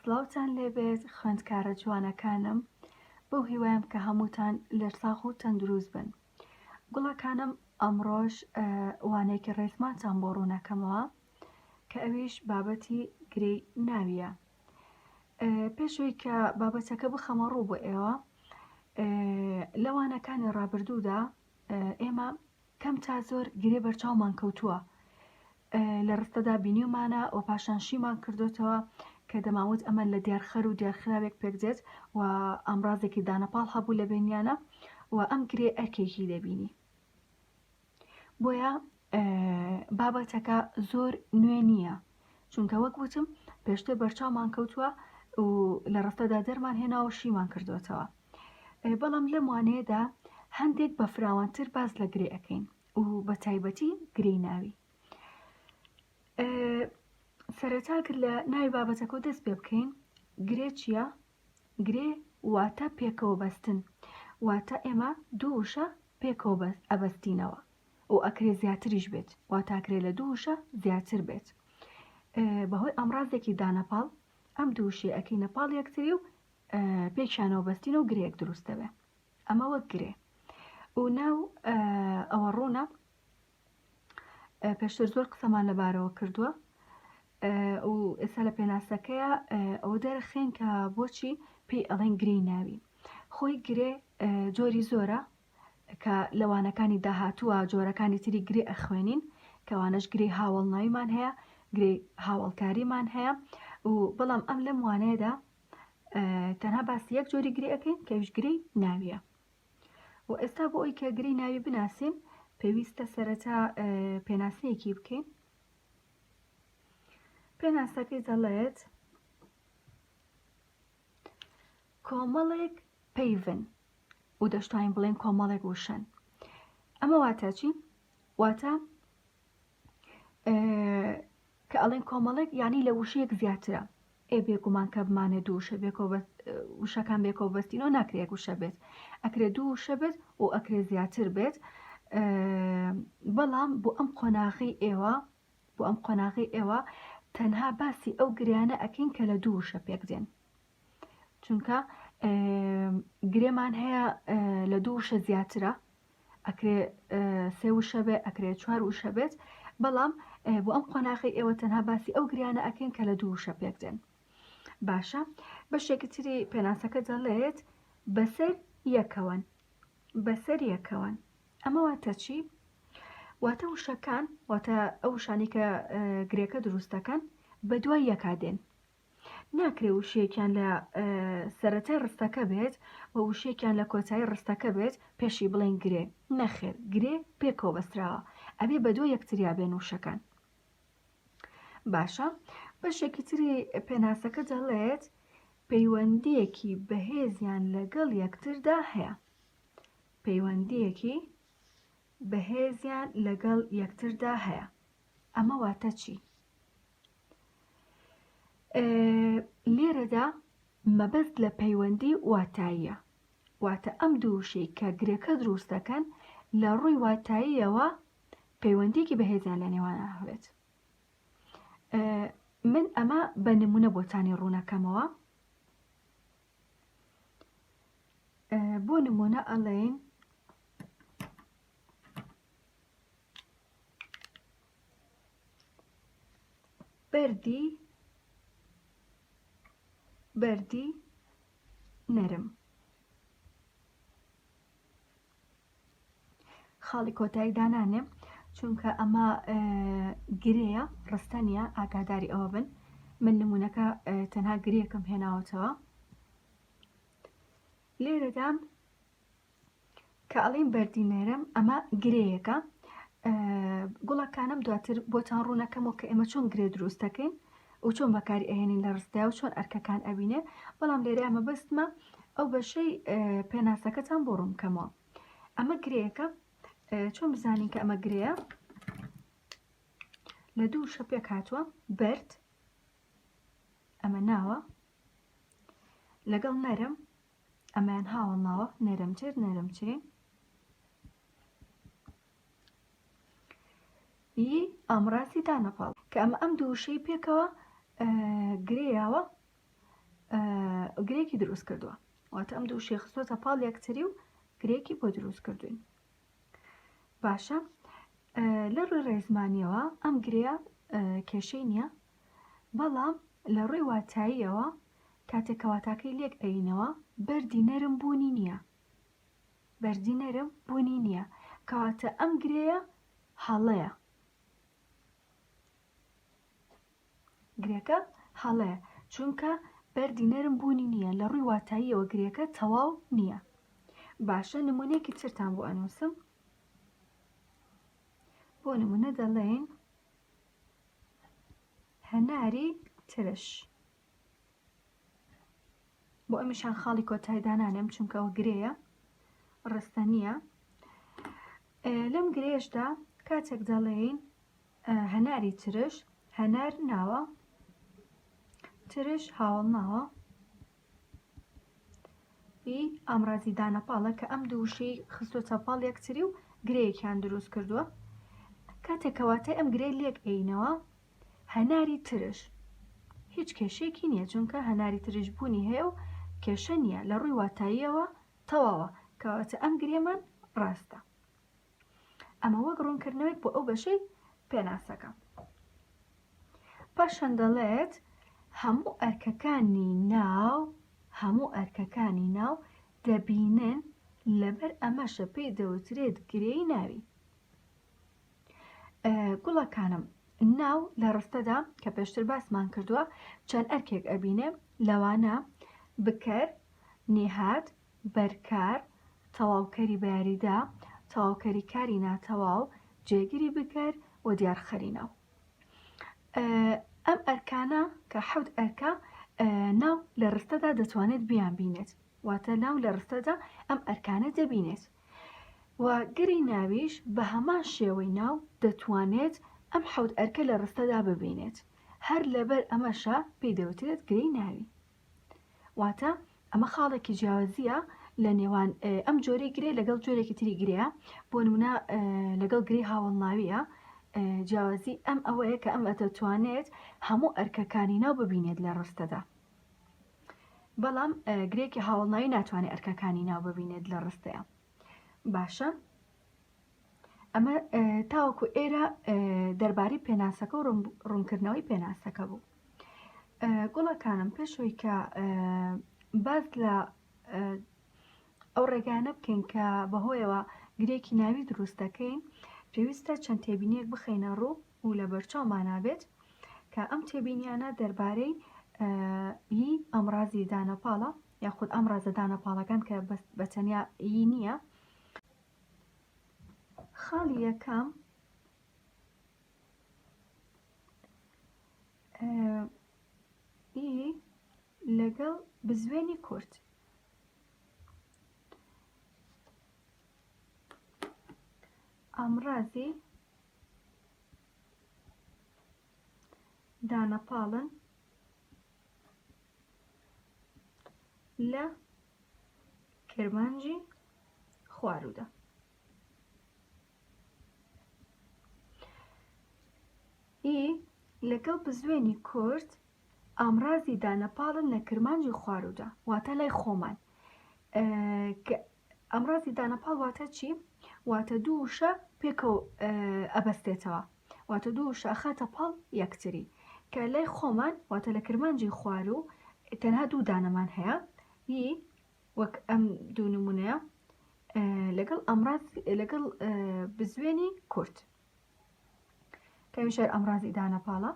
سڵاوتان لێبێت خوێندکارە جوانەکانم بەو هیوایم کە هەمووتان لەرساخ و تەندروست بن گوڵەکانم ئەمڕۆژ وانێکی ڕێزمانتان بۆ ڕوونەکەمەوە کە ئەویش بابەتی گرێی ناویە پێشوی کە بابەتەکە بخەمە ڕوو بۆ ئێوە لەوانەکانی ڕابردوودا ئێمە کەم تا زۆر گرێ بەرچاومان کەوتووە لە ڕستەدا بینیومانە و پاشان شیمان کردوتەوە کە دەماوت ئەمە لە دیارخەر و دیارخراوێک پێک دێت و ئامرازێکی دانەپاڵ هەبوو لە بینیانە و ئەم گرێ ئەرکێکی دەبینی بۆیە بابەتەکە زۆر نوێ نییە چونکە وەک وتم پێشتر بەرچاومان کەوتووە و لە ڕستەدا دەرمان هێناوە شیمان کردوێتەوە بەڵام لەم وانەیەدا هەندێک بە فراوانتر باز لە گرێ ئەەکەین و بە تایبەتی گرێی ناوی سەرەتاگر لە ناوی بابەتەکە دەست پێ بکەین گرێ چییە گرێ واتە پێکەوە بەستن واتە ئێمە دوو وشە پێکەوە بەس ئەبەستینەوە و ئەکرێ زیاتریش بێت واتاکرێ لە دوو وشە زیاتر بێت بەهۆی ئەمڕازێکی دانەپاڵ ئەم دووشێ ئەەکەی نەپاڵ یەکتری و پێکیانەوە بەستین و گرێیەک دروست دەبێ ئەمە وەک گرێ و ناو ئەوە ڕوونە پێشتر زۆر قسەمان لەبارەوە کردووە و ئێستا لە پێناسەکەیە ئەوە دەرەخێن کە بۆچی پێی ئەڵێن گرێی ناوی خۆی گرێ جۆری زۆرە کە لەوانەکانی داهاتووە جۆرەکانی تری گرێ ئەخوێنین کەوانەش گرێ هاوڵناویمان هەیە گرێ هاوڵکاریمان هەیە و بەڵام ئەم لەم وانەیەدا تەنها باسی یەک جۆری گرێ ئەەکەین کەویش گرێی ناویە و ئێستا بۆ ئەوی کە گرێی ناوی بناسین پێویستە سەرەتا پێناسەیەکی بکەین پێناسەکەی دەڵێت کۆمەڵێک پەیڤن و دەشتوانین بڵێن کۆمەڵێک وشەن ئەمە واتە چی واتە کە ئەڵێن کۆمەڵێک یعنی لە وشەیەک زیاترە ئێ بێگومان کە بمانە دوو وشە بێکەوە بەس وشەکان بێکەوە بەستینەوە ناکرێک وشە بێت ئەکرێ دوو وشە بێت و ئەکرێ زیاتر بێت بەڵام بۆ ئەم قۆناغی ئێوە بۆ ئەم قۆناغی ئێوە تەنها باسی ئەو گریانە ئەکەین کە لە دوو وشە پێک دێن چونکە گرێمان هەیە لە دوو وشە زیاترە ئەکرێ سێ وشە بێ ئەکرێ چوار وشە بێت بەڵام بۆ ئەم قۆناغی ئێوە تەنها باسی ئەو گریانە ئەکەین کە لە دوو وشە پێک دێن باشە بەشێکی تری پێناسەکە دەڵێت بەسەر یەکەوەن بەسەر یەکەوەن ئەمە واتە چی؟ واتە وشەکان واتە ئەو شانی کە گرێکە دروستەکەن بە دوای یەکا دێن ناکرێ وشەیەکیان لە سەرەتای ڕستەکە بێت و وشەیەکیان لە کۆتایی ڕستەکە بێت پێشی بڵێن گرێ نەخێر گرێ پێکەوە بەستراوە ئەبێ بە دۆ یەکتریا بێن وشەکان باشە بەشێکی تری پێناسەکە دەڵێت پەیوەندیەکی بەهێزیان لەگەڵ یەکتردا هەیە پەیوەندیەکی بەهێزیان لەگەڵ یەکتردا هەیە ئەمە واتە چی؟ لێرەدا مەبەست لە پەیوەندی واتاییە واتە ئەم دووشەی کە گرێکە دروست دەکەن لە ڕووی واتاییەوە پەیوەندێکی بەهێزیان لە نێوانە هەبێت من ئەمە بە نمونە بۆتانی ڕوونەکەمەوە بۆ نمونە ئەڵێن بەردی بەردی نەرم خاڵی کۆتایی دانانێ چونکە ئەمە گرەیە ڕستە نیە ئاگاداری ئەوە بن من نمونونەکە تەنها گرێکم هێناوەتەوە لێرەدا کە ئەڵێین بەردی نەرم ئەمە گرێیەکە گوڵەکانم دواتر بۆتان ڕوونەکەمەوە کە ئێمە چۆن گرێ دروستەکەین و چۆن بەکاری ئەهێنین لە ڕستدا و چۆن ئەرکەکان ئەبینێ بەڵام لێرە ئەمە بەستمە ئەو بەشەی پێناسەکەتان بۆ ڕوونکەمەوە ئەمە گرێیەکە چۆن بزانین کە ئەمە گرەیە لە دوو شە پێک هاتووە بەرد ئەمە ناوە لەگەڵ نەرم ئەمەیان هاوەڵناوە نەرمتر نەرمترین ی ئامڕازی دانەپاڵ کە ئەمە ئەم دووشەی پێکەوە گرێیاوە گرێکی دروست کردووە واتە ئەم دوو شێخستۆتە پاڵ یەکتری و گرێکی بۆ دروست کردوین باشە لە ڕووی ڕێزمانیەوە ئەم گرێە کێشەی نییە بەڵام لە ڕووی واتاییەوە کاتێک کە واتاکەی لێک ئەیینەوە بەردی نەرم بوونی نییە بەردی نەرم بوونی نییە کەواتە ئەم گرێیە هەڵەیە گرێکە هەڵەیە چونکە بەردی نەرم بوونی نییە لە ڕووی واتاییەوە گرێکە تەواو نییە باشە نمونەیەکی ترتان بۆ ئەنووسم بۆ نمونە دەڵێن هەناری ترش بۆ ئەمیشان خاڵی کۆتای دانانێم چونکە ئەوە گرێیە ڕستە نییە لەم گرێشدا کاتێک دەڵێین هەناری ترش هەنار ناوە ترش هاوڵ ناوە ی ئامرازی دانەپاڵە کە ئەم دوو وشەی خستۆتە پاڵ یەکتری و گرێیەکیان دروست کردووە کاتێک کەواتای ئەم گرێ لێک ئەینەوە هەناری ترش هیچ کێشێکی نییە چونکە هەناری ترش بوونی هەیە و کێشە نییە لە ڕووی واتاییەوە تەواوە کەواتە ئەم گرێمان ڕاستە ئەمە وەک ڕوونکردنەوەیەک بۆ ئەو بەشەی پێناسەکە پاشان دەڵێت هەموو ئەرکەکانی ناو هەموو ئەرکەکانی ناو دەبینن لەبەر ئەمەشە پێی دەوترێت گرێی ناوی گوڵەکانم ناو لە ڕستەدا کە پێشتر باسمان کردووە چەند ئەرکێک ئەبینێ لەوانە بکەر نێهات بەرکار، تەواوکەری بەیاریدا، تەواوکەری کاری ناتەواو، جێگری بکەر و دیارخەری ناو. ئەم ئەرکانە کە حەوت ئەرکە ناو لە ڕستەدا دەتوانێت بیان بینێت واتە ناو لە ڕستەدا ئەم ئەرکانە دەبینێت و گری ناویش بە هەمان شێوەی ناو دەتوانێت ئەم حەوت ئەرکە لە ڕستەدا ببینێت هەر لەبەر ئەمەشە پێی دەوترێت گرێی ناوی واتە ئەمە خاڵێکی جیاوازیە لە نێوان ئەم جۆرەی گرێ لەگەڵ جۆرێکی تری گرەیە بۆ نمونە لەگەڵ گری هاوڵناویە جیاوازی ئەم ئەوەیە کە ئەم ئەتەتوانێت هەموو ئەرکەکانی ناو ببینێت لە ڕستەدا بەڵام گرێکی هاوڵناوی ناتوانێت ئەرکەکانی ناو ببینێت لە ڕستەیە باشە ئەمە تاوەکو ئێرە دەربارەی پێناسەکە و ڕوونکردنەوەی پێناسەکە بوو گوڵەکانم پێشەوەی کە باز لە ئەو ڕێگانە بکەین کە بەهۆیەوە گرێکی ناوی دروست دەکەین پێویستە چەند تێبینیەک بخەینە ڕوو و لە بەرچاومانابێت کە ئەم تێبینیانە دەربارەی ئی ئەمڕازی دانەپاڵە یاخود ئەم ڕازەدانە پاڵەکان کە بەتەنیا ئی نییە خاڵی یەکەم ئی لەگەڵ بزوێنی کورت ئامرازی دانەپاڵن لە کرمانجی خوارودا ئی لەگەڵ بزوێنی کورد ئامرازی دانەپاڵن لە کرمانجی خوارودا واتە لای خۆمان ئامرازی دانەپاڵ واتە چی واتە دوو وشە پێکەوە ئەبەستێتەوە واتە دوو وشە ئەخاتە پاڵ یەکتری کە لای خۆمان واتە لە کرمانجی خوارو تەنها دوو دانەمان هەیە ی وەک ئەم دوو نمونەیە لەگەڵ ئەمراز لەگەڵ بزوێنی کورد کەویشەر ئەمرازی دانەپاڵە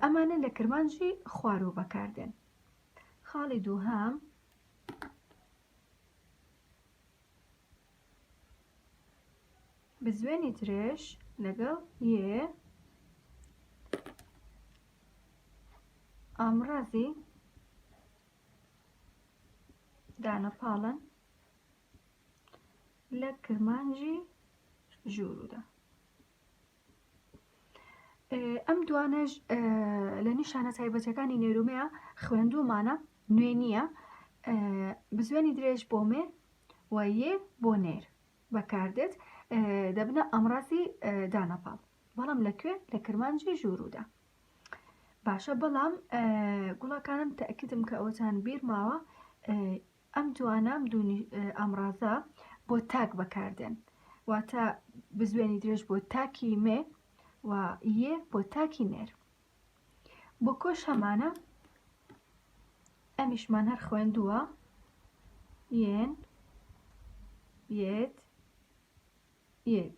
ئەمانە لە کرمانجی خوارەوە بەکاردێن خاڵی دووهام بزوێنی درێژ لەگەڵ یێ ئامرازی دانە پاڵن لە کرمانجی ژوورودا ئەم دوانەش لە نیشانە تایبەتەکانی نێرومەیە خوێندومانە نوێ نییە بزوێنی درێژ بۆ مێ و یێ بۆ نێر بەکاردێت دەبنە ئەمڕازی دانەپاڵ بەڵام لەکوێ لە کرمانجی ژوورودا باشە بەڵام گوڵەکانم تەکیدم کە ئەوتان بیر ماوە ئەم جوانام دوونی ئامرازە بۆ تاک بەکاردێن واتە بزوێنی درێژ بۆ تاکی مێ و یە بۆ تاکی نێر بۆ کۆش هەمانە ئەمیشمان هەر خوێندووە یەن یەت یەت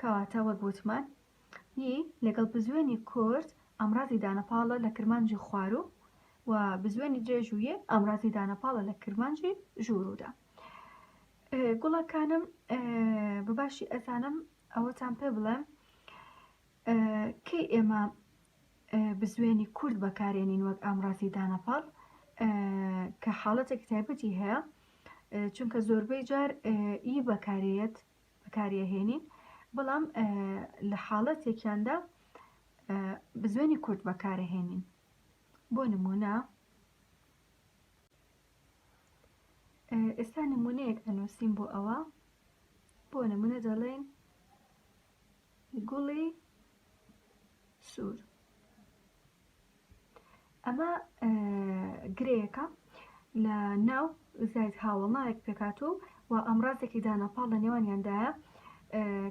کەواتە وەک وتمان ی لەگەڵ بزوێنی کورت ئامرازی دانەپاڵە لە کرمانجی خواروو و بزوێنی درێژ و یێ ئامرازی دانەپاڵە لە کرمانجی ژووروودا. گوڵەکانم بە باشی ئەزانم ئەوەتان پێ بڵێم کەی ئێمە بزوێنی کورد بەکارێنین وەک ئامرازی دانەپاڵ کە حاڵەتێک تایبەتی هەیە چونکە زۆربەی جار ئی بەکارەیەت بەکاریەهێنین بەڵام لە حاڵەتێکیاندا بزوێنی کورت بەکارەهێنین بۆ نمونە ئێستا نمونەیەک ئەنووسین بۆ ئەوە بۆ نمونە دەڵێن گوڵی سوور ئەمە گرێیەکە لە ناو زایت هاوڵ ناوێک پێکات و و ئەمڕازێکی دانەپاڵ لە نێوانیاندایە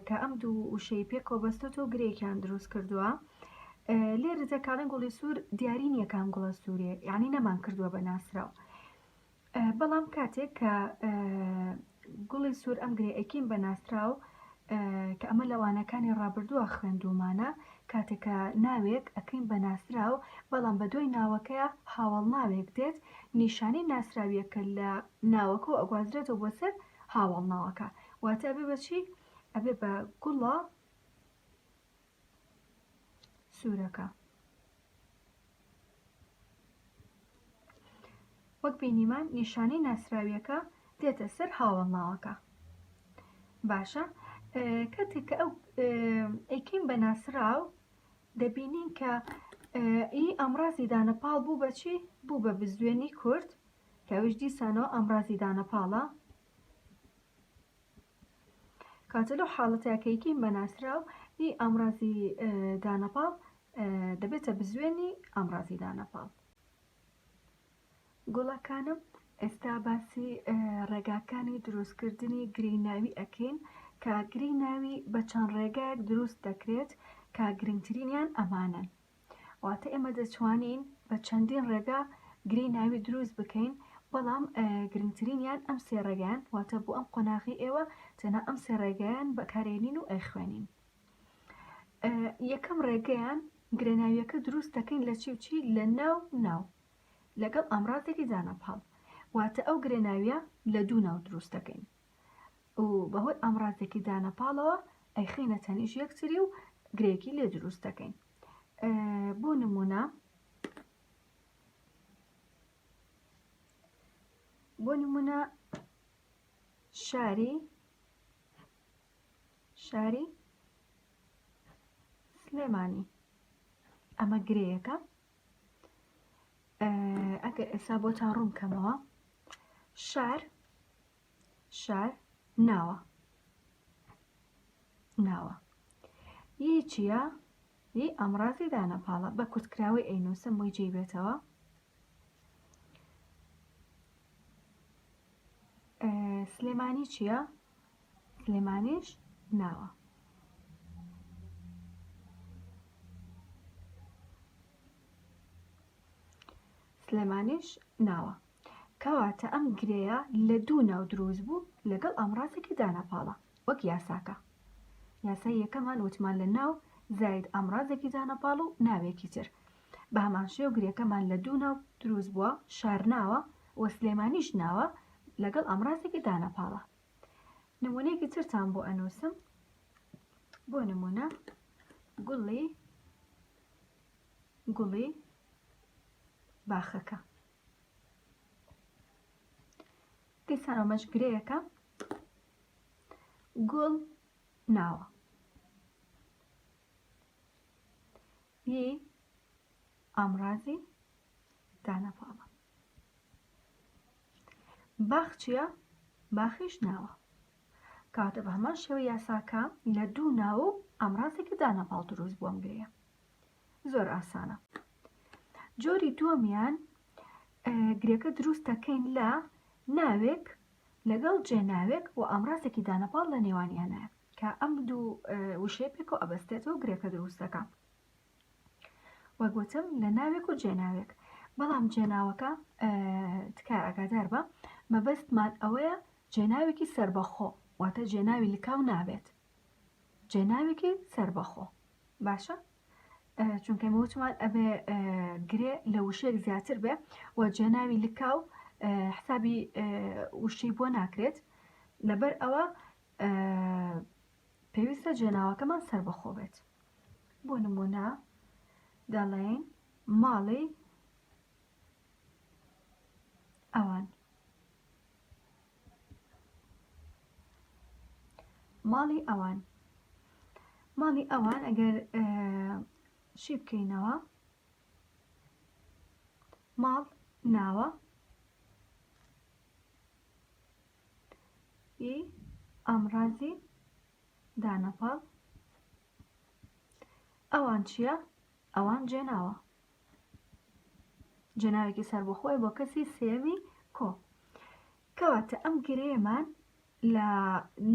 کە ئەم دوو وشەی پێکەوە بەستۆت و گرێکیان دروست کردووە لێرە دەکارن گوڵی سوور دیاری نییەکان گوڵە سوورێ یعنی نەمان کردووە بە ناسراو بەڵام کاتێک کە گوڵی سوور ئەم گرێ ئەکیم بە ناسراو کە ئەمە لە وانەکانی ڕابردووە خوێندومانە کاتێکە ناوێک ئەکەین بە ناسراو بەڵام بە دوای ناوەکەیە هاوڵ ناوێک دێت نیشانی ناسراویەکە لە ناوەکە و ئەگوازرێتەوە بۆ سەر هاوڵ ناوەکە واتە بێ بەچی ئەبێ بە گوڵە سوورەکە. وەک بینیمان نیشانەی ناسراویەکە دێتە سەر هاوڵناوەکە باشە کاتێک کە ئەو ئەیکەین بە ناسراو دەبینین کە ئی ئەمڕازی دانەپاڵ بوو بەچی بوو بە بزوێنی کورد کەویش دیسانەوە ئەمڕازی دانەپاڵە کاتێ لەو حاڵەتەیا کە یکیم بە ناسراو ی ئامڕازی دانەپاڵ دەبێتە بزوێنی ئامڕازی دانەپاڵ. گوڵەکانم ئێستا باسی ڕێگاکانی دروستکردنی گرێی ناوی ئەکەین کە گرێی ناوی بە چەند ڕێگایەک دروست دەکرێت کە گرنگترینیان ئەمانەن. واتە ئێمە دەتوانین بە چەندین ڕێگا گری ناوی دروست بکەین بەڵام گرنگترینیان ئەم سێ ڕێگەیان واتە بۆ ئەم قۆناغی ئێوە تەنە ئەم سێ ڕێگەیان بەکارێنین و ئەیخوێنین یەکەم ڕێگەیان گرێناویەکە دروست دەکەین لە چی و چی لە ناو ناو لەگەڵ ئامرازێکی دانەپاڵ واتە ئەو گرێناویە لە دوو ناو دروست دەکەین و بەهۆی ئامڕازێکی دانە پاڵەوە ئەیخەینە تەنیش یەکتری و گرێکی لێ دروست دەکەین بۆ نمونە بۆ نمونە شاری شاری سلێمانی ئەمە گرێیەکە ئەگەر ئێستا بۆتان ڕوون بکەمەوە شار شار ناوە ناوە یی چییە یی ئەمڕازی دانەپاڵە بە کورتکراوەی ئەینوسم بۆی جێی بێتەوە سلێمانی چییە سلێمانیش ناوە. سلێمانیش ناوە. کەواتە ئەم گرێیە لە دوو ناو دروست بوو لەگەڵ ئامڕازێکی دانەپاڵە وەک یاساکە یاسای یەکەمان وتمان لە ناو زاید ئامڕازێکی دانەپاڵ و ناوێکی تر بە هەمانشێ و گرێکەمان لە دوو ناو دروست بووە شارناوە و سلێمانیش ناوە لەگەڵ ئامرازێکی دانەپاڵە نمونەیەکی ترتان بۆ ئەنووسم بۆ نمونە گوڵی گوڵی باخەکە دیسان ئەمەش گرەیەکە گوڵ ناوە ی ئامرازی دانە پاڵە باخ چییە باخیش ناوە کاتە بە هەمان شێوە یاساکە لە دوو ناو و ئامرازێکی دانەپاڵ دروست بووم گرەیە زۆر ئاسانە جۆری دووەمیان گرێکە دروست دەکەین لە ناوێک لەگەڵ جێناوێک و ئامرازێکی دانەپاڵ لە نێوانیانە کە ئەم دوو وشەیە پێکەوە ئەبەستێتەوە گرێکە دروستەکە وەک وتم لە ناوێک و جێناوێک بەڵام جێناوەکە تکای ئاگادار بە مەبەستمان ئەوەیە جێناوێکی سربەخۆ واتە جێناوی لکاو نابێت جێناوێکی سربەخۆ باشە چونکە مەوتمان ئەبێ گرێ لە وشێک زیاتر بێ و جێناوی لکاو حسابی وشەی بۆ ناکرێت لەبەر ئەوە پێویستە جێناوەکەمان سەربەخۆ بێت بۆ نمونە دەڵێین ماڵی ئەوان ماڵی ئەوان ماڵی ئەوان ئەگەر شی بکەینەوە ماڵ ناوە ئامرازی دانەپاڵ ئەوان چییە؟ ئەوان جێناوە جێناوێکی سەربەخۆی بۆ کەسی سێوی کۆ کەواتە ئەم گرێمان لە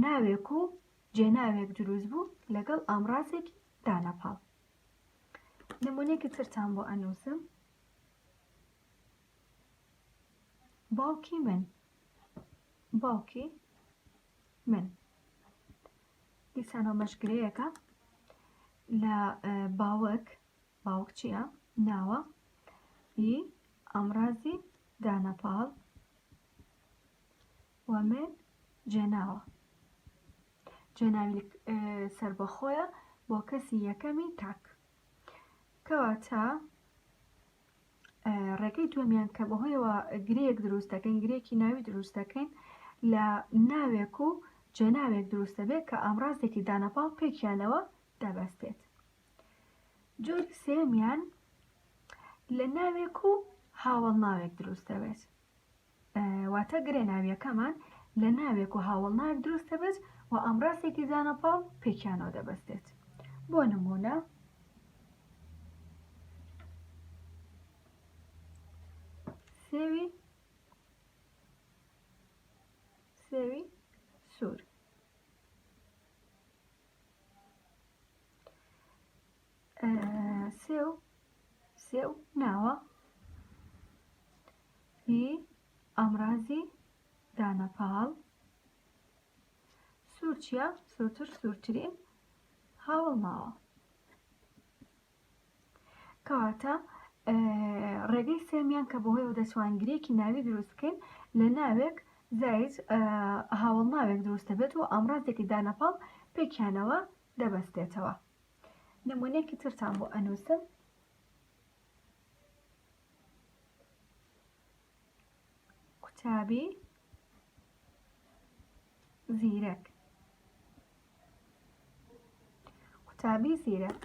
ناوێک و جێناوێک دروست بوو لەگەڵ ئامرازێکی دانەپاڵ نمونێکی ترتان بۆ ئەنووسم باوکی من باوکی من دیسانەوە مەشگرەیەەکە لە باوەک باوک چییە ناوە ی ئامرازی دانەپاڵ و من جێناوە جێناوی سربەخۆیە بۆ کەسی یەکەمی تاک کەواتە ڕێگەی دووەمیان کە بەهۆیەوە گرێک دروست دەکەین گرێکی ناوی دروست دەکەین لە ناوێک و جێناوێک دروست دەبێت کە ئامرازێکی دانەپاڵ پێکیانەوە دەبەستێت جۆری سێمیان لە ناوێک و هاوڵ ناوێک دروست دەبێت واتە گرێ ناویەکەمان لە ناوێک و هاوڵناوێک دروست دەبێت و ئامڕاستێکی زانەپاڵ پێکیانەوە دەبەستێت بۆ نمونە سێوی سێوی سوور سێو سێو ناوە ی ئامرازی دانەپاڵ سوورچە سوورتر سوورترین هاوڵ ماوە کەواتە ڕێگەی سێمیان کە بەهۆی و دەچوانگرێکی ناوی دروست بکەین لە ناوێک زایت هاوڵ ناوێک دروستە بێت و ئامرازێکی دانەپاڵ پێکیانەوە دەبەستێتەوە نمونەیەکی ترتان بۆ ئەنوسم. قوتابی زیرەک قوتابی زیرەک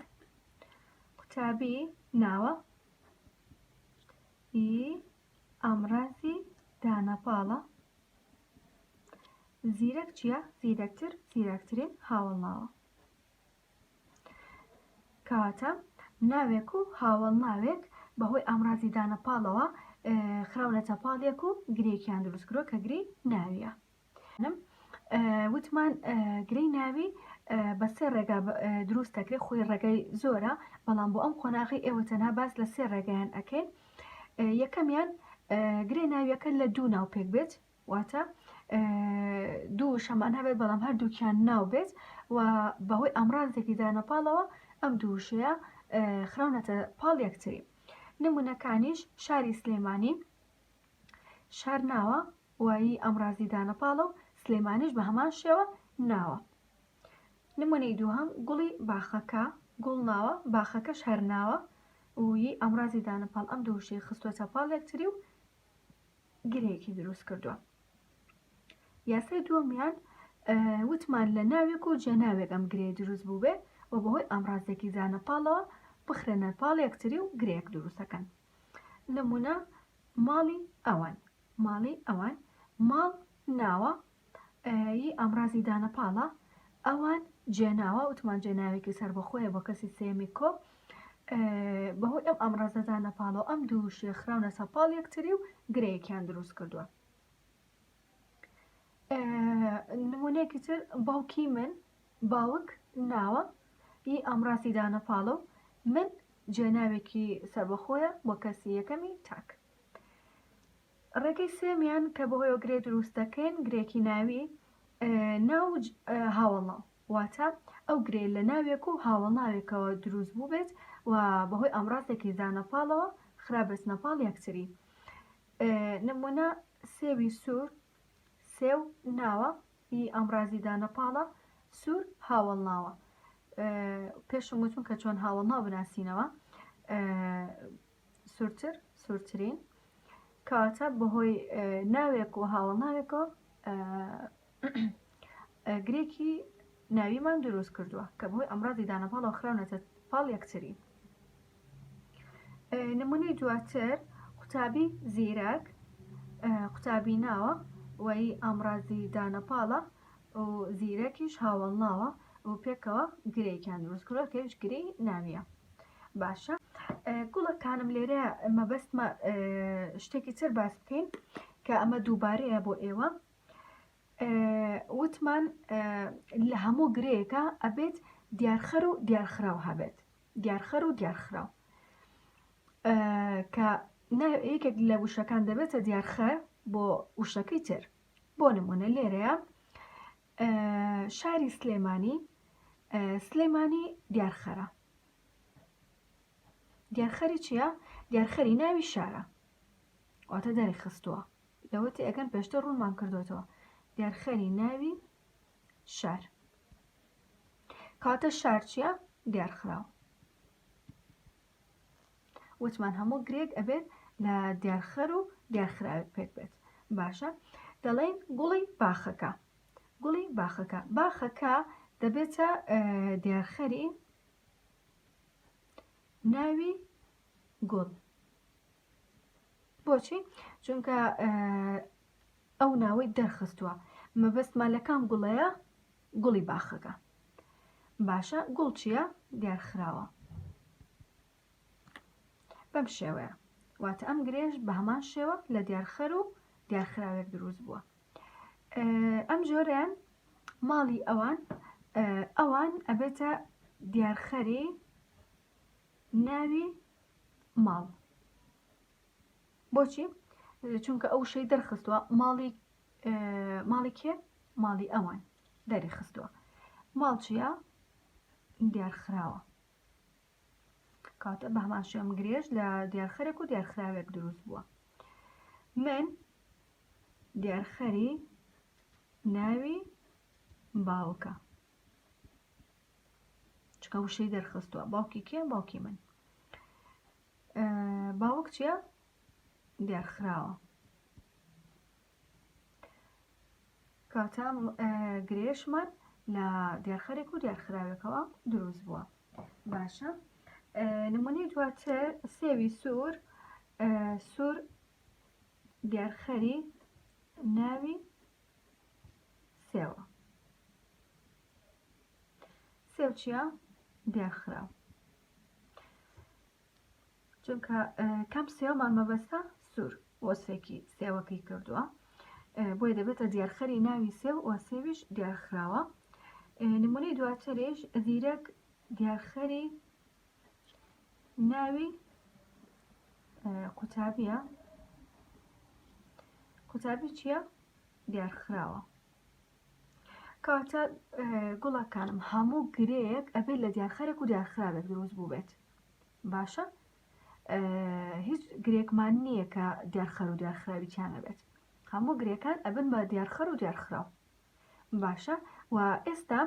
قوتابی ناوە ئی ئامرازی دانەپاڵە زیرەک چییە؟ زیرەکتر زیرەکترین هاوڵاوە کەواتە ناوێک و هاوەڵناوێک بەهۆی ئامرازی دانە پاڵەوە خراونەتە پاڵێک و گرێکیان دروستکرۆ کە گری ناویە وتمان گرەی ناوی بە سێ ڕێگا دروست دەکرێت خۆی ڕێگای زۆرە بەڵام بۆ ئەم قۆناغی ئێوە تەنها باس لە سێ ڕێگەیان ئەەکەین یەکەمیان گرێ ناویەکە لە دوو ناو پێک بێت واتە دوو شەمان هەبێت بەڵام هەردووکیان ناو بێت و بەهۆی ئامرازێکی دانە پاڵەوە ئەم دووشەیە خراونەتە پاڵ یەکتری نمونونەکانیش شاری سلێمانی شار ناوە وایی ئەمرازی دانە پاڵە و سلێمانیش بە هەمان شێوە ناوە نمونەی دووهم گوڵی باخەکە گوڵ ناوە باخەکەش هەرناوە وی ئەمرازی دانە پاڵ ئەم دووشەی خستۆتە پاڵ یەکتری و گرێکی دروست کردووە یاسای دووەمیان وتمان لە ناوێک و جێناوێک ئەم گرێ دروست بوو بێ و بەهۆی ئامرازێکی زانە پاڵەوە بخرێنە پاڵ یەکتری و گرێک دروستەکەن نمونە ماڵی ئەوان ماڵی ئەوان ماڵ ناوە ی ئامڕازی دانە پاڵە ئەوان جێناوە وتمان جێناوێکی سەربەخۆیە بۆ کەسی سێمی کۆ بەهۆی ئەم ئامڕازە دانە پاڵەوە ئەم دوو شێ خراونە سەپاڵ یەکتری و گرەیەکیان دروست کردووە نمونەیەکی تر باوکی من باوک ناوە ئی ئامڕازی دانە پاڵە و من جێناوێکی سەربەخۆیە بۆ کەسی یەکەمی تاک ڕێگەی سێمیان کە بەهۆیەوە گرێ دروست دەکەین گرێکی ناوی ناو هاوەڵا واتە ئەو گرێ لە ناوێک و هاوەڵ ناوێکەوە دروست بوو بێت و بەهۆی ئامرازێکی زانەپاڵەوە خراپبێت نەپاڵ یەکتری نمونە سێوی سوور سێو ناوە ئی ئامرازی دانەپاڵە سوور هاوەڵ ناوە پێشم وتون کە چۆن هاوەڵ ناو بناسینەوە سورتر سورترین کەواتە بەهۆی ناوێک و هاوڵناوێکەوە گرێکی ناویمان دروست کردووە کە بەهۆی ئەمڕادی دانەپاڵەوە خراونەتە پاڵ یەکتری نمونەی دواتر قوتابی زیرەک قوتابی ناوە وەی ئامرازی دانەپاڵە و زیرەکیش هاوەڵ ناوە و پێکەوە گرێیکیان دروست کردوە کەویش گرێی ناویە باشە گوڵەکانم لێرە مەبەستمە شتێکی تر باس بکەین کە ئەمە دووبارەیە بۆ ئێوە وتمان لە هەموو گرێیەکە ئەبێت دیارخەر و دیارخراو هەبێت دیارخەر و دیارخراو کە یەکێک لە وشەکان دەبێتە دیارخەر بۆ وشەکەی تر بۆ نمونە لێرەیە شاری سلێمانی سلێمانی دیارخەرە دیارخەری چییە دیارخەری ناوی شارە واتە دەری خستووە لەوەتی ئەگەن پێشتە ڕوونمان کردوێتەوە دیارخەری ناوی شار کاتە شار چییە دیارخراوە وتمان هەموو گرێک ئەبێت لە دیارخەر و دیارخراوێک پێک بێت باشە دەڵێن گوڵی باخەکە گوڵی باخەکە باخەکە دەبێتە دیارخەری ناوی گوڵ بۆچی چونکە ئەو ناوەی دەرخستووە مەبەستمان لەکان گوڵەیە گوڵی باخەکە باشە گوڵ چییە دیار خراوە بەم شێوەیە واتە ئەم گرێژ بە هەمان شێوە لە دیارخەر و دیارخراوێک دروست بووە ئەم جۆریان ماڵی ئەوان ئەوان ئەبێتە دیارخەری ناوی ماڵ بۆچی چونکە ئەو شەی دەرخستووە ماڵی ماڵی کێ ماڵی ئەوان دەری خستووە ماڵ چیە دیارخراوە کاتە بەهمان شێم گرێژ لە دیارخەرێک و دیارخراوێک دروست بووە من دیارخەری ناوی باوکە چکە وشەی دەرخستووە باوکی کێ باوکی من باوک چیە دیار خراوە کاتە گرێشمان لە دیارخەرێک و دیارخراوێکەوە دروست بووە باشە نمونەی دواتر سێوی سوور سوور دیارخەری ناوی سێوە سێوچە دیارخراو چونکە کەم سێومان مەبەستە سوور وەسفێکی سێوەکەی کردووە بۆی دەبێتە دیارخەری ناوی سێو و سێویش دیارخراوە نمونەی دواتریش زیرەک دیارخەری ناوی قوتابیە قوتابی چییە دیارخراوە کاتە گوڵەکانم هەموو گرێک ئەبێت لە دیارخەرێک و دیارخراوێک دروست بوو بێت باشە هیچ گرێکمان نییە کە دیارخەر و دیارخراوی چیانە بێت هەموو گرێکان ئەبن بە دیارخەر و دیارخراو باشە و ئێستا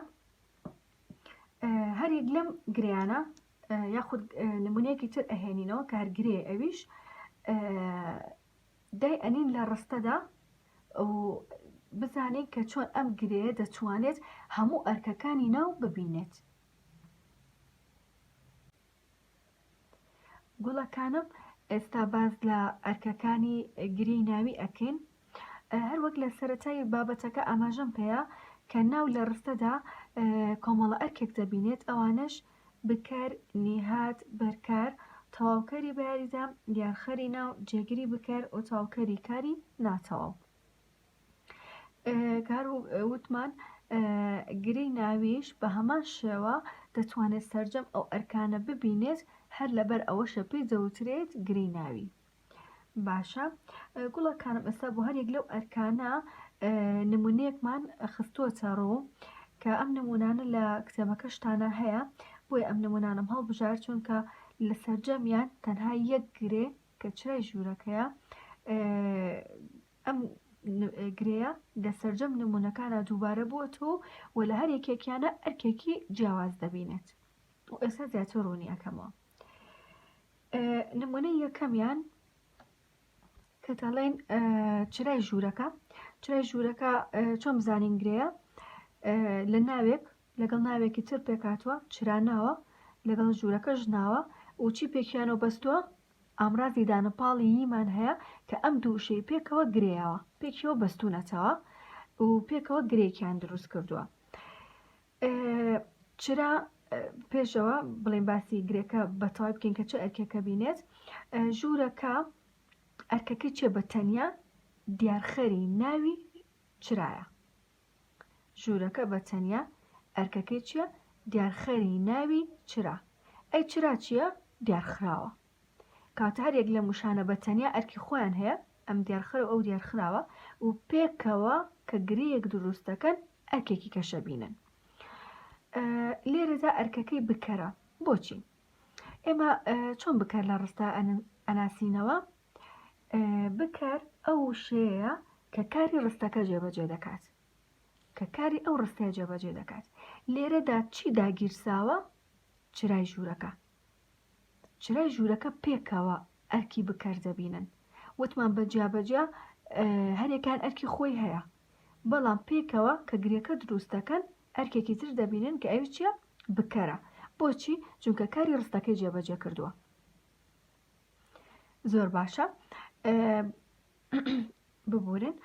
هەریەک لەم گریانە یاخود نمونەیەکی تر ئەهێنینەوە کارگرێ ئەویش دای ئەنین لە ڕستەدا و بزانین کە چۆن ئەم گرێیە دەتوانێت هەموو ئەرکەکانی ناو ببینێت. گوڵەکانم ئێستا باز لە ئەرکەکانی گرێی ناوی ئەکەین هەروەک لە سەتای بابەتەکە ئاماژەم پێەیە کە ناو لە ڕستەدا کۆمەڵە ئەرکێک دەبینێت ئەوانش بکەر، نیهاد بەرکار، تەواوکەری بەیاریدا، دیارخەری ناو، جێگری بکەر، و تەواوکەری کاری ناتەواو. کە هەر وتمان گرێی ناویش بە هەمان شێوە دەتوانێت سەرجەم ئەو ئەرکانە ببینێت، هەر لەبەر ئەوەشە پێی دەوترێت گرێی ناوی. باشە گوڵەکانم ئێستا بۆ هەرێک لەو ئەرکانە نمونونەیەکمان خستووەتە ڕوو کە ئەم نمونانە لە کتێبەکەشتانە هەیە بۆی ئەم نمونانم هەڵبژار چونکە لە سەرجەمیان تەنها یەک گرێ کە چرای ژوورەکەیە ئەم گرەیە لە سەرجەم نمونونەکانە دووبارە بووە تۆ و لە هەر یەکێکیانە ئەرکێکی جیاواز دەبینێت و ئێستا زیاتر ڕوونی ئەەکەمەوە نمونەی یەکەمیان کە دەڵێن چرای ژوورەکە چرای ژوورەکە چۆن بزانین گرەیە لە ناوێک لەگەڵ ناوێکی تر پێکاتوە چراناوە لەگەڵ ژوورەکە ژناوە وچی پێکیانەوە بەستووە ئامرازی دانە پاڵی یمان هەیە کە ئەم دووشەی پێکەوە گرەوە پێکەوە بەستونەتەوە و پێکەوە گرێکیان دروست کردووە چرا پێشەوە بڵێن باسی گرێکە بەتەوای بکەین کە چه ئەرکێکە بینێت ژوورەکە ئەرکەکە چێ بە تەنیا دیارخەری ناوی چرایە ژوورەکە بە تەنیا ئەرکەکەی چییە دیارخەری ناوی چرا ئەی چرا چییە دیارخراوە کاتە هەر یەک لە موشانە بە تەنیا ئەرکی خۆیان هەیە ئەم دیارخەر و ئەو دیارخراوە و پێکەوە کە گرەیەک دروستەکەن ئەرکێکی کەشە بینن لێرەدا ئەرکەکەی بکەرە بۆچی ئێمە چۆن بکەر لە ڕستە ئەناسینەوە بکەر ئەو شەیە کە کاری ڕستەکە جێبەجێ دەکات کە کاری ئەو ڕستەیە جێبەجێ دەکات لێرەدا چی داگیرساوە چرای ژوورەکە چرای ژوورەکە پێکەوە ئەرکی بکەر دەبینن وتمان بە جیابەجیا هەرێکان ئەرکی خۆی هەیە بەڵام پێکەوە کە گرێکە دروست دەکەن ئەرکێکی تر دەبینن کە ئەوی چیە بکەرە بۆچی جونکە کاری ڕستەکەی جێبەجێ کردووە زۆر باشە ببورن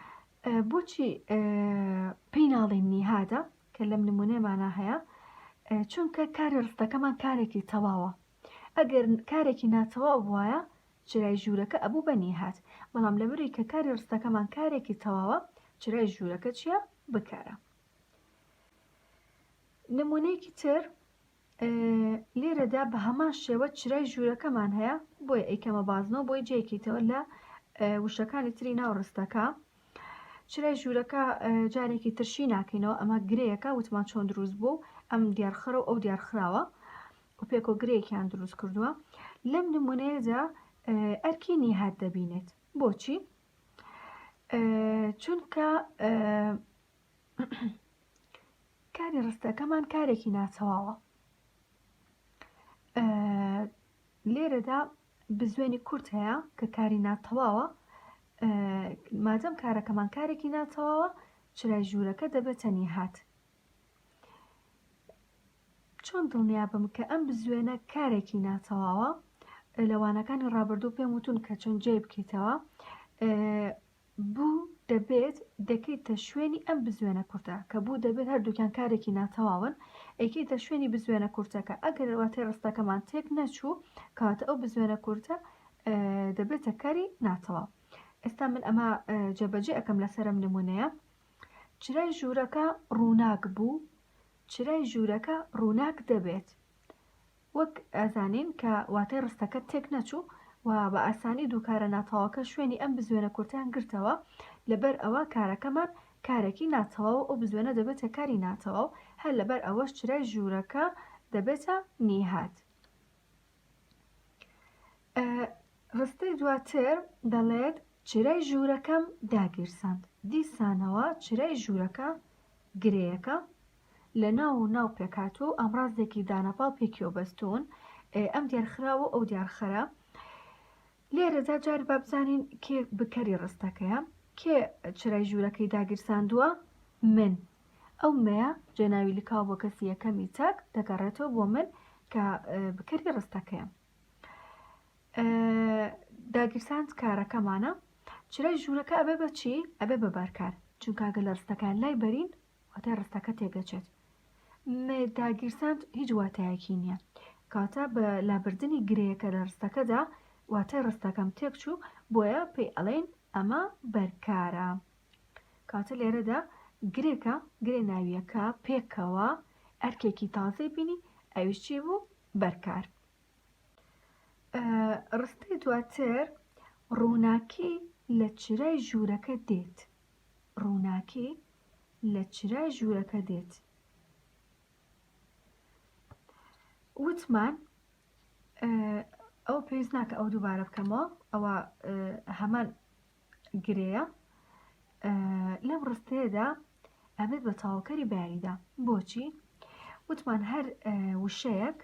بۆچی پێی ناڵین نیهادە کە لەم نمونەمانە هەیە چونکە کاری ڕستەکەمان کارێکی تەواوە ئەگەر کارێکی ناتەواو وایە چرای ژوورەکە ئەبوو بە نیهات بەڵام لەبری کە کاری ڕستەکەمان کارێکی تەواوە چرای ژوورەکە چییە بکارە نمونەیەکی تر لێرەدا بە هەمان شێوە چرای ژوورەکەمان هەیە بۆیە ئەیکەمە بازنەوە بۆی جێکیتەوە لە وشەکانی تری ناو ڕستەکە چرای ژوورەکە جارێکی ترشی ناکەینەوە ئەمە گرەیەەکە وتمان چۆن دروست بوو ئەم دیارخرە و ئەو دیارخراوە و پێکۆ گرێکیان دروست کردووە لەم نمونەیەدا ئەرکی نیهات دەبینێت بۆچی چونکە کاری ڕستەکەمان کارێکی ناتەواوە لێرەدا بزوێنی کورت هەیە کە کاری ناتەواوە مادەم کارەکەمان کارێکی ناتەواوە چرای ژوورەکە دەبێتە نیهات چۆن دڵنیا بم کە ئەم بزوێنە کارێکی ناتەواوە لەوانەکانی ڕابردوو پێم وتون کە چۆن جێ بکەیتەوە بوو دەبێت دەکەیتە شوێنی ئەم بزوێنە کورتە، کە بوو دەبێت هەردووکیان کارێکی ناتەواون، ئەیکەیتە شوێنی بزوێنە کورتەکە، ئەگەر واتای ڕستەکەمان تێک نەچوو، کەواتە ئەو بزوێنە کورتە دەبێتە کاری ناتەواو. ئێستا من ئەمە جێبەجێ ئەکەم لەسەر ئەم نمونەیە. چرای ژوورەکە ڕووناک بوو، چرای ژوورەکە ڕووناک دەبێت. وەک ئەزانین کە واتای ڕستەکە تێک نەچوو و بە ئاسانی دوو کارە ناتەواوەکە شوێنی ئەم بزوێنە کورتەیان گرتەوە، لەبەر ئەوە کارەکەمان کارێکی ناتەواو و ئەو بزوێنە دەبێتە کاری ناتەواو، هەر لەبەر ئەوەش چرای ژوورەکە دەبێتە نیهاد. ڕستەی دواتر دەڵێت، چرای ژوورەکەم داگیرساند. دیسانەوە چرای ژوورەکە گرێیەکە لە ناو و ناو پێکهاتووە و ئامڕازێکی دانەپاڵ پێکیەوە بەستوون، ئێ ئەم دیارخراوە و ئەو دیارخەرە. لێرەدا جارێ با بزانین کێ بکەری ڕستەکەیە؟ کێ چرای ژوورەکەی داگیرساندووە؟ من. ئەو مەیە جێ ناوی لکاو بۆ کەسی یەکەمی چەک دەگەڕێتەوە بۆ من کە بکەری ڕستەکەیەم. داگیرساند کارەکەمانە. چرای ژوورەکە ئەبێ بە چی؟ ئەبێ بە بارکار. چونکە ئەگەر لە ڕستەکەیان لای بەرین واتای ڕستەکە تێکدەچێت. مێتاگیرساند هیچ واتایەکی نییە. کاتە بە لابردنی گرێیەکە لە ڕستەکەدا واتای ڕستەکەم تێکچوو بۆیە پێی ئەڵێن ئەمە بەرکارە. کاتە لێرەدا گرێکە گرێ ناویەکە پێکەوە ئەرکێکی تازەی بینی ئەویش چی بوو بەرکار. ڕستەی دواتر ڕووناکی لە چرای ژوورەکە دێت. ڕووناکی لە چرای ژوورەکە دێت. وتمان ئەوە پێویست ناکە ئەو دووبارە بکەمەوە ئەوە هەمان گرەیە لەم ڕستەیەدا ئەبێت بە تاوکەری بەیاریدا بۆچی وتمان هەر وشەیەک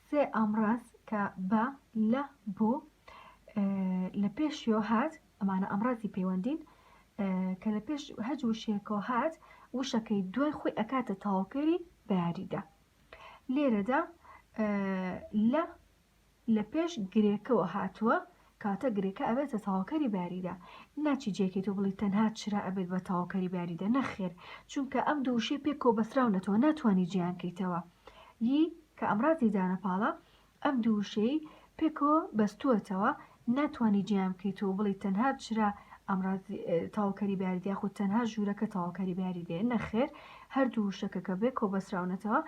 سێ ئامڕاز کە بە، لە، بۆ، لە پێشیەوە هات، ئەمانە ئامڕازی پەیوەندین، کە لە پێش هەج وشەیەکەوە هات وشەکەی دوای خۆی ئەکاتە تەواوکەری بە یاریدا لێرەدا لە لە پێش گرێکەوە هاتووە کاتە گرێکە ئەبێتە تەواوکەری باریدە ناچی جێکەی تۆ بڵی تەنها چرا ئەبێت بە تەواوکەری باریدە نەخێر چونکە ئەم دوو وشەی پێک کۆبەسراونەتەوە ناتوانی جێیان کەیتەوە ی کە ئەمرازی دانە پاڵە ئەم دوو وشەی پێکۆ بەستووەتەوە ناتوانی جێیان بکەیتەوە بڵی تەنها چرا ئەمرازی تەواوکەری باریدە خود تەنها ژوورەکە تەواوکەری باریدێ نەخێر هەردوو وشەکە کە بێ کۆبەسراونەتەوە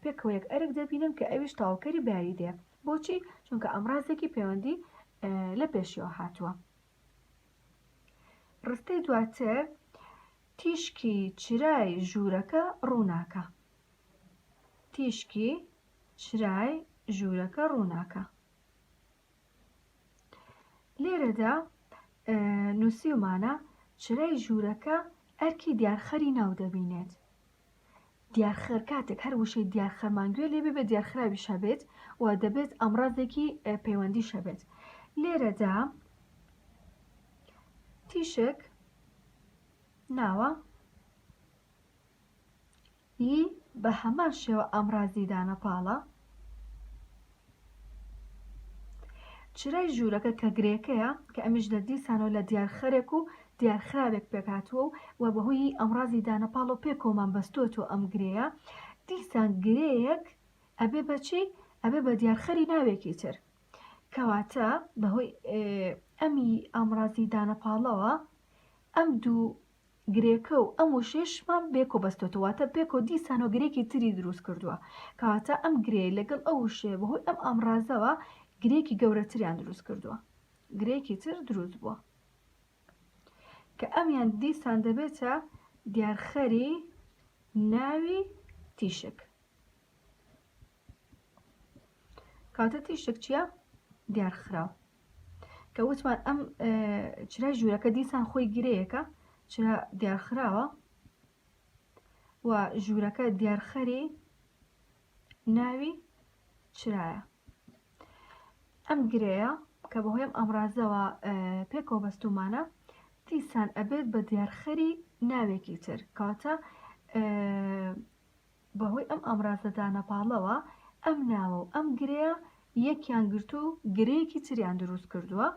پێکەوە یەک ئەرک دەبینن کە ئەویش تەواوکەری باریدێ بۆچی؟ چونکە ئامڕازێکی پەیوەندی لە پێشیەوە هاتووە. ڕستەی دواتر تیشکی چرای ژوورەکە ڕووناکە. تیشکی چرای ژوورەکە ڕووناکە. لێرەدا نووسیومانە چرای ژوورەکە ئەرکی دیارخەری ناو دەبینێت. دیارخر کاتێک هەر وشەی دیارخرمان گوێ لێ بێ دیارخراویش هەبێت و دەبێت ئەمڕازێکی پەیوەندیش هەبێت لێرەدا تیشک ناوە ی بە هەمان شێوە ئەمڕازی دانەپاڵە چرای ژوورەکە کە گرێکەیە کە ئەمیش لە دیسانەوە لە دیار خەرێک و دیار خراوێک پێک هاتووە و وە بە هۆیی ئەمڕازی دانە پاڵەو پێ کۆمان بەستووەتەوە ئەم گرێیە دیسان گرێیەک ئەبێ بە چی ئەبێ بە دیار خەری ناوێکی تر کەواتە بە هۆی ئەمی ئامڕازی دانە پاڵەوە ئەم دوو گرێکە و ئەم وشەیەشمان بێکۆ بەستۆتەوە واتە پێکۆ دیسانەوە گرێکی تری دروست کردووە کەواتە ئەم گرێ لەگەڵ ئەو وشەیە بەهۆی ئەم ئامڕازەوە گرێکی گەورەتریان دروست کردووە گرێکی تر دروست بووە کە ئەمیان دیسان دەبێتە دیارخەری ناوی تیشک کاتە تیشک چییە دیار خراو کە وتمان ئەم چرای ژوورەکە دیسان خۆی گرەیەەکە چرا دیارخراوە و ژوورەکە دیارخەری ناوی چرایە ئەم گرەیە کە بەهۆیم ئەمرازەوە پێکەوە بەستومانە دیسان ئەبێت بە دیارخەری ناوێکی تر کاتە بەهۆی ئەم ئامرازە دانەپاڵەوە ئەم ناوە و ئەم گرێیە یەکیان گرتوو و گرێیەکی تریان دروست کردووە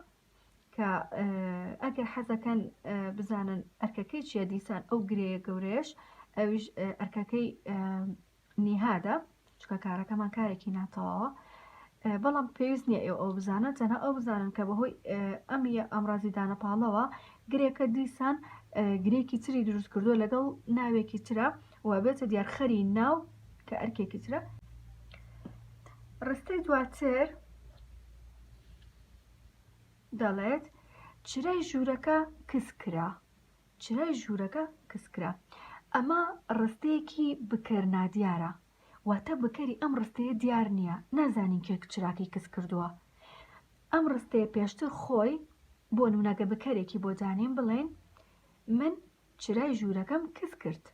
کە ئەگەر حەزەکەن بزانن ئەرکەکەی چیە دیسان ئەو گرێیە گەورەش ئەویش ئەرکەکەی نیهادە چکە کارەکەمان کارێکی ناتەواوە بەڵام پێویست نییە ئێو ئەو بزانن تەنها ئەو بزانن کە بەهۆی ئەمیە ئەمرازی دانەپاڵەوە گرێکە دیسان گرێکی تری دروست کردووە لەگەڵ ناوێکی ترە و بێتە دیارخەری ناو کە ئەرکێکی ترە ڕستەی دواتر دەڵێت چرای ژوورەکە کس کرا چرای ژوورەکە کس کرا ئەمە ڕستەیەکی بکەر نادیارە واتە بکەری ئەم ڕستەیە دیار نییە نازانین کێک چراکی کس کردووە ئەم ڕستەیە پێشتر خۆی بۆ نونەگە بکەرێکی بۆ دانیم بڵێن من چرای ژوورەکەم کز کرد.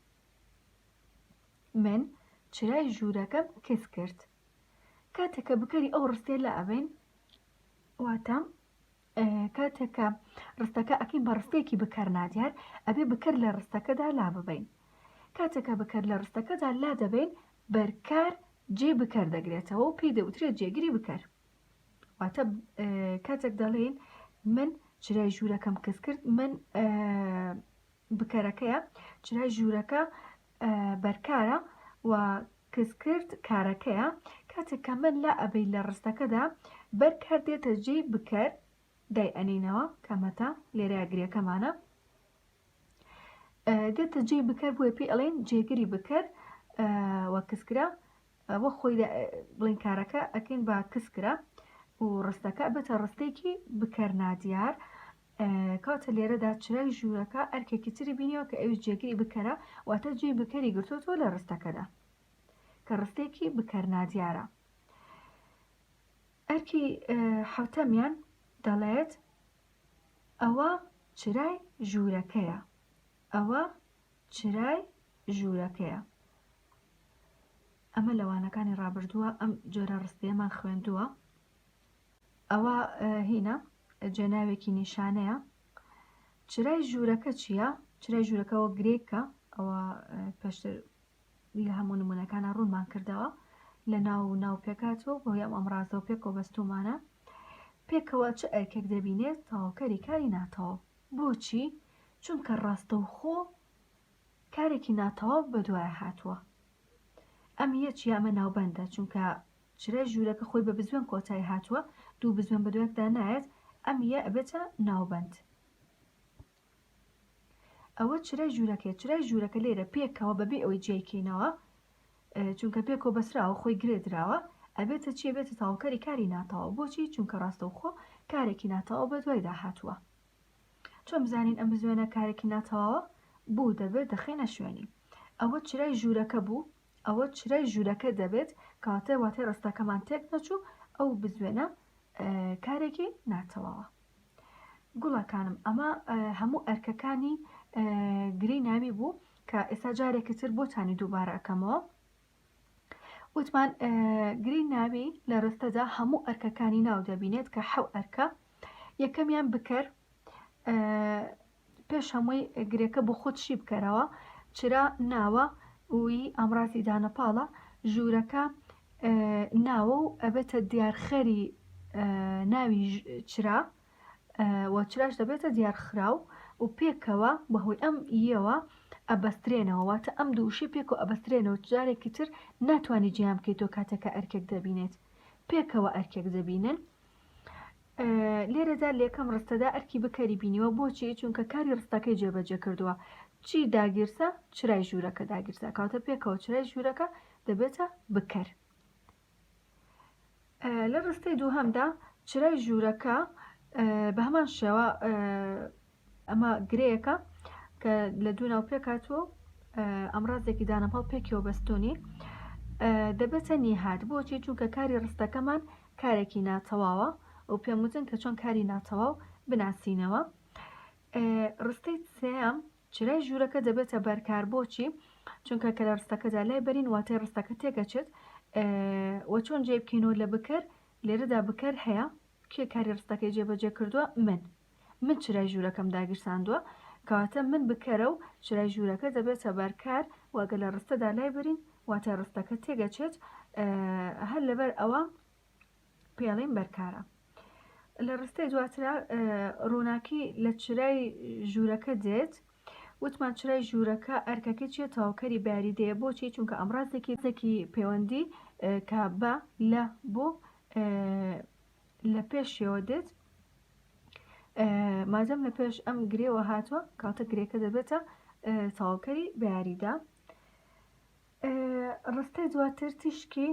من چرای ژوورەکەم کز کرد. کاتێک کە بکەری ئەو ڕستێ لە ئەبین واتە کاتێک کە ڕستەکە ئەکەین بە ڕستێکی بکەر نادیار ئەبێ بکەر لە ڕستەکەدا لا ببین کاتێکە بکەر لە ڕستەکەدا لا دەبین بەرکار جێ بکەر دەگرێتەوە و پێی دەوترێت جێگری بکەر واتە کاتێک دەڵێن من چرای ژوورەکەم کەس کرد من بکەرەکەیە چرای ژوورەکە بەرکارە و کەس کرد کارەکەیە کاتێک کە من لا ئەبەی لە ڕستەکەدا بەرکار دێتە جێی بکەر دای ئەنینەوە کەمەتە لێرە گرێکەمانە دێتە جێی بکەر بۆی پێ ئەڵێن جێگری بکەر وە کەسکرا وەک خۆی دە بڵین کارەکە ئەکەین بە کس کرا و ڕستەکە بێتە ڕستێکی بکەر نادیار کاتە لێرەدا چرای ژوورەکە ئەرکێکی تری بینیەوە کە ئەوش جێگری بکەرە واتە جێ بکەری گرتوتۆ لە ڕستەکەدا کە ڕستێکی بکەر نادیارە ئەرکی حوتەمیان دەڵێت ئەوە چرای ژوورەکەیە ئەوە چرای ژوورەکەیە. ئەمە لە وانەکانی ڕابردووە ئەم جۆرە ڕستەیەمان خوێندووە ئەوە هینە جێناوێکی نیشانەیە چرای ژوورەکە چییە چرای ژوورەکەەوە گرێکە ئەوە پێشتر لە هەموو نمونونەکانە ڕوونمان کردەوە لە ناو و ناو پێکاتەوە بۆ یام ئەمڕازەوە پێکەوە بەستومانە پێکەوە چ ئەرکێک دەبینێت تاوکەری کاری ناتەوە بۆچی؟ چونکە ڕاستەوخۆ کارێکی ناتەواو بەدوایە هاتووە. ئەم یەچ یا ئەمە ناوبەندە، چونکە چرای ژوورەکە خۆی بە بزوێن کۆتایی هاتووە، دوو بزوێن بەدوایەکدا نایەت، ئەم یە ئەبێتە ناوبەند. ئەوە چرای ژوورەکەیە، چرای ژوورەکە لێرە پێکەوە بەبێ ئەوەی جیای کەینەوە، چونکە پێ کۆبەسراوە خۆی گرێ دراوە ئەبێتە چی ئەبێتە تەواوکەری کاری ناتەواو بۆچی چونکە ڕاستەوخۆ کارێکی ناتەواو بە دوایدا هاتووە چۆن بزانین ئەم بزوێنە کارێکی ناتەواوە بوو دەبێت دەخەینە شوێنی ئەوە چرای ژوورەکە بوو ئەوە چرای ژوورەکە دەبێت کەواتە واتای ڕستەکەمان تێک نەچوو ئەو بزوێنە کارێکی ناتەواوە گوڵەکانم ئەمە هەموو ئەرکەکانی گرێی ناوی بوو کە ئێستا جارێکی تر بۆتانی دووبارە ئەەکەمەوە وتمان گرێی ناوی لە ڕستەدا هەموو ئەرکەکانی ناو دەبینێت کە حەو ئەرکە یەکەمیان بکەر پێش هەمووی گرێکە بۆ خۆت شی بکەرەوە چرا ناوە وی ئامرازی دانە پاڵە ژوورەکە ناوە و ئەبێتە دیارخەری ناوی چرا و چراش دەبێتە دیارخراو و پێکەوە بەهۆی ئەم یەوە ئەبەسترێنەوە واتە ئەم دووشی پێک و ئەبەسترێنەوە جارێکی تر ناتوانانی جیان بکەیت تۆ کاتێکە ئەرکێک دەبینێت پێکەوە ئەرکێک دەبینن لێرەدا لەکەم ڕستەدا ئەرکی بکەری بینیوە بۆچی چونکە کاری ڕستەکەی جێبەجێ کردووە چی داگیرسە چرای ژوورەکە داگیرسە کاتە پێکەوە چرای ژوورەکە دەبێتە بکەر لە ڕستەی دووهەمدا چرای ژوورەکە بە هەمان شێوە ئەمە گرێیەکە کە لە دوو ناو پێکاتوە و ئەمڕازێکی دانەپاڵ پێکەوە بەستونی دەبێتە نیهات بۆچی چونکە کاری ڕستەکەمان کارێکی ناتەواوە و پێم وتن کە چۆن کاری ناتەواو بناسینەوە ڕستەی سێم چرای ژوورەکە دەبێتە بەرکار بۆچی چونکە کە لە ڕستەکەدا لای بەرین واتای ڕستەکە تێکەچێت وە چۆن جێ بکەینەوە لە بکەر لێرەدا بکەر هەیە کێ کاری ڕستەکەی جێبەجێ کردووە من من چرای ژوورەکەم داگیرساندووە، کەواتە من بکەرە و چرای ژوورەکە دەبێتە بەر کار و ئەگەر لە ڕستەدا لای برین واتە ڕستەکە تێگەچێت هەر لەبەر ئەوە پێڵین بەرکارە. لە ڕستەی دواترا ڕووناکی لە چرای ژوورەکە دێت وتمان چرای ژوورەکە ئەرکەکەی چیە تەواوکەری باری دەیە بۆچی چونکە ئەمڕازێکی زەکی پەیوەندی کە بە لە بۆ لە پێشیەوە دێت مادەم لە پێش ئەم گرێوە هاتووە کاتە گرێکە دەبێتە تەواوکەری بەیاریدا ڕستەی دواتر تیشکی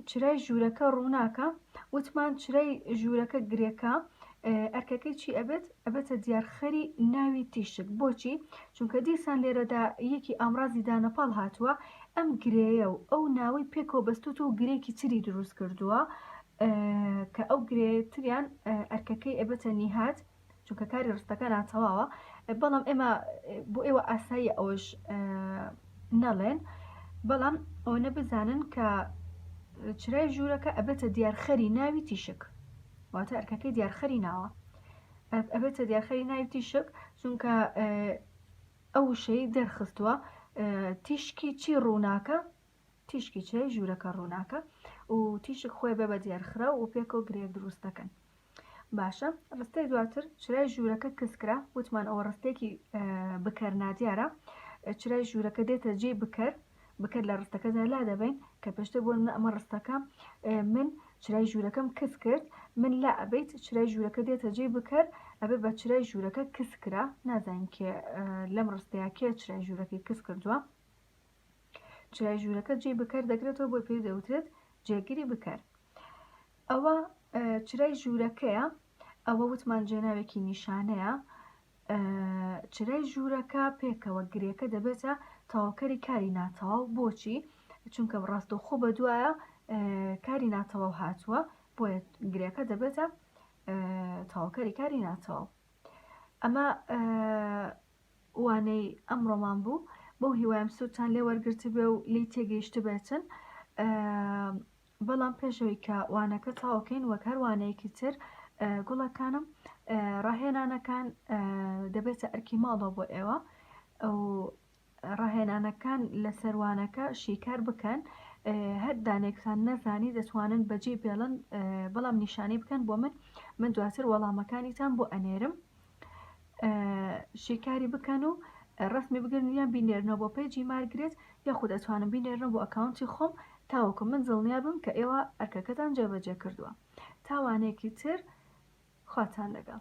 چرای ژوورەکە ڕووناکە وتمان چرای ژوورەکە گرێکە ئەرکەکەی چی ئەبێت ئەبێتە دیارخەری ناوی تیشک بۆچی چونکە دیسان لێرەدا یەکی ئامرازی دانەپاڵ هاتووە ئەم گرەیە و ئەو ناوەی پێکەوە بەستوت و گرێکی تری دروست کردووە کە ئەو گرێ تریان ئەرکەکەی ئەبەتە نیهات چونکە کاری ڕستەکە ناتەواوە بەڵام ئێمە بۆ ئێوە ئاسایی ئەوەش نەڵێن بەڵام ئەوەنە بزانن کە چرای ژوورەکە ئەبێتە دیارخەری ناوی تیشک واتە ئەرکەکەی دیارخەری ناوە ئەبێتە دیارخەری ناوی تیشک چونکە ئەو شەی دەرخستووە تیشکی چی ڕووناکە تیشکی چێ ژوورەکە ڕووناکە و تیشک خۆی بە بە دێرخراو و پێکەوە گرێک دروست دەکەن باشە ڕستەی دواتر چرای ژوورەکە کەسکرا وتمان ئەوە ڕستێکی بکەر نادیارە چرای ژوورەکە دێتە جێ بکەر بکەر لە ڕستەکەدا لا دەبین کە پێشتر بۆ منە ئەمە ڕستەکە من چرای ژوورەکەم کەس کرد من لا ئەبیت چرای ژوورەکە دێتە جێ بکەر ئەبێ بە چرای ژوورەکە کەس کرا نازانین کێ لەم ڕستەیە کێ چرای ژوورەکەی کەس کردووە چرای ژوورەکە جێی بکەر دەگرێتەوە بۆی پێ دەوترێت جێگری بکەر ئەوە چرای ژوورەکەیە ئەوە وتمان جێناوێکی نیشانەیە چرای ژوورەکە پێکەوە گرێکە دەبێتە تاوکەری کاری ناتەواو بۆچی چونکە ڕاستەوخۆ بە دوایە کاری ناتەواو هاتووە بۆیە گرێکە دەبێتە تاوکەری کاری ناتەواو ئەمە وانەی ئەمڕۆمان بوو بەو هیوایم سوودتان لێ وەرگرتبێ و لی تێگەیشتبێتن بەڵام پێشەوەی کە وانەکە تاوکەین وەک هەر وانەیەکی تر گوڵەکانم ڕاهێنانەکان دەبێتە ئەرکی ماڵەوە بۆ ئێوە ئەو ڕاهێنانەکان لە سەروانەکە شیکار بکەن هەر دانێکتان نەزانی دەتوانن بەجێ بێڵن بەڵام نیشانەی بکەن بۆ من من دواتر وەڵامەکانیتان بۆ ئەنێرم شیکاری بکەن و ڕسمی بگرن یان بینێرنەوە بۆ پێجی مارگرێت یاخود ئەتوانم بینێرنەوە بۆ ئەکاونتی خۆم تاوەکو من دڵنیا بم کە ئێوە ئەرکەکەتان جێبەجێ کردووە تاوانێکی تر خواتان لەگەڵ